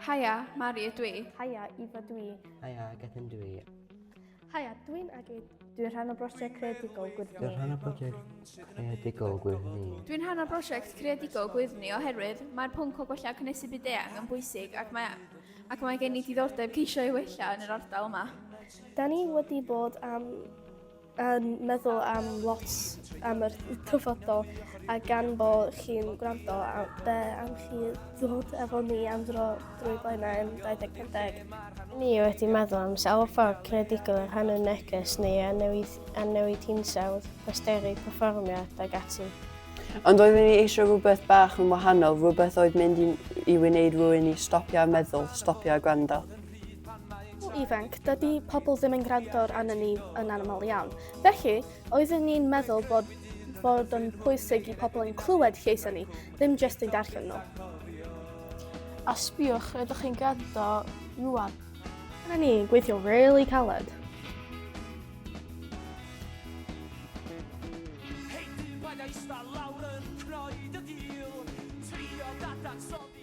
Haia, Mari ydw i. Haia, Ifa dwi. Haia, Gethin dwi. Haia, dwi'n Agid. Dwi'n rhan o brosiect creadigol Gwyrddni. Dwi'n rhan o brosiect creadigol Gwyrddni. Dwi'n rhan o brosiect creadigol Gwyrddni oherwydd mae'r pwnc o gwella cynnesu byd eang yn bwysig ac mae, ac mae gen i diddordeb ceisio ei wella yn yr ardal yma. Da ni wedi bod am yn meddwl am lot am yr dyfodol a gan bo chi'n gwrando a be am chi ddod efo ni am dro drwy blaenau yn 2050. Ni wedi meddwl am sawl ffordd creadigol yr hanner neges neu a newid, a newid hinsawdd, posteri, perfformiad ac ati. Ond oeddwn ni eisiau rhywbeth bach yn wahanol, rhywbeth oedd mynd i, i wneud rwy'n i stopio a meddwl, stopio a gwrando. pobl ifanc, dydy pobl ddim yn gwrando arnyn ni yn anaml iawn. Felly, oeddwn ni'n meddwl bod, bod yn pwysig i pobl yn clywed lleisau ni, ddim jyst yn darllen nhw. A sbiwch, rydych chi'n gwrando rwan. Dyna ni, gweithio really caled. Hey, dyn, paid a ista lawr yn croed y dil. Trio dadansoddi.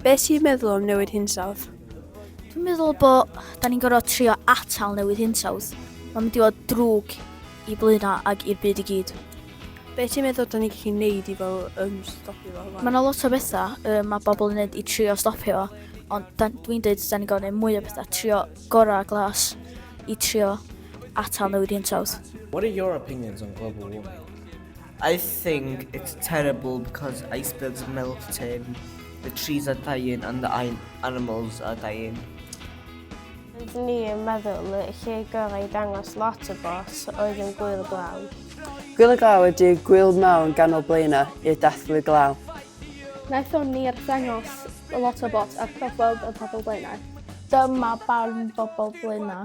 Be ti'n meddwl am newid hinsawdd? Dwi'n meddwl bo da ni'n gorfod trio atal newid hinsawdd. Mae'n mynd i fod drwg i Blaena ag i'r byd i gyd. Be ti'n meddwl da ni'n gallu neud i fel um, stopio fo? Mae yna lot o bethau um, mae bobl yn neud i trio stopio fo, ond dwi'n dweud da ni'n gorfod neud mwy o bethau, trio gorau glas i trio atal newid hinsawdd. What are your opinions on global warming? I think it's terrible because icebergs are melting, the trees are dying and the animals are dying. Rydyn ni yn meddwl y lle gorau i dangos lot o bos oedd yn gwyl glaw. Gwyl y glaw ydy gwyl mawr yn ganol blaenau i'r dathlu glaw. Naethon ni arddangos lot o bos ar Clogweld yn pobl blaenau. Dyma barn bobl blaenau.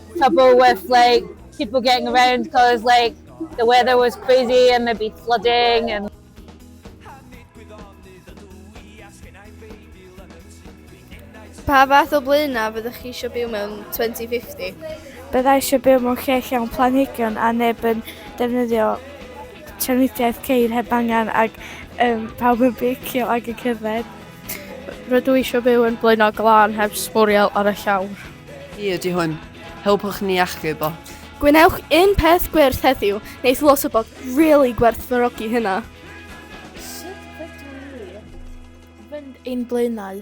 trouble with like people getting around because like the weather was crazy and there'd be flooding and Pa fath o blaenau fyddwch chi eisiau byw mewn 2050? Byddai eisiau byw mewn lle llawn planhigion a neb yn defnyddio trafnidiaeth ceir heb angen ac um, pawb yn beicio ac yn cerdded. Rydw i eisiau byw yn blaenau glân heb sbwriel ar y llawr. Hi ydy hwn. Helpwch ni achub o. Gwnewch un peth gwyrth heddiw, neith lot o bod really gwerthfarogi hynna. Sut ydw i fynd ein blaenau?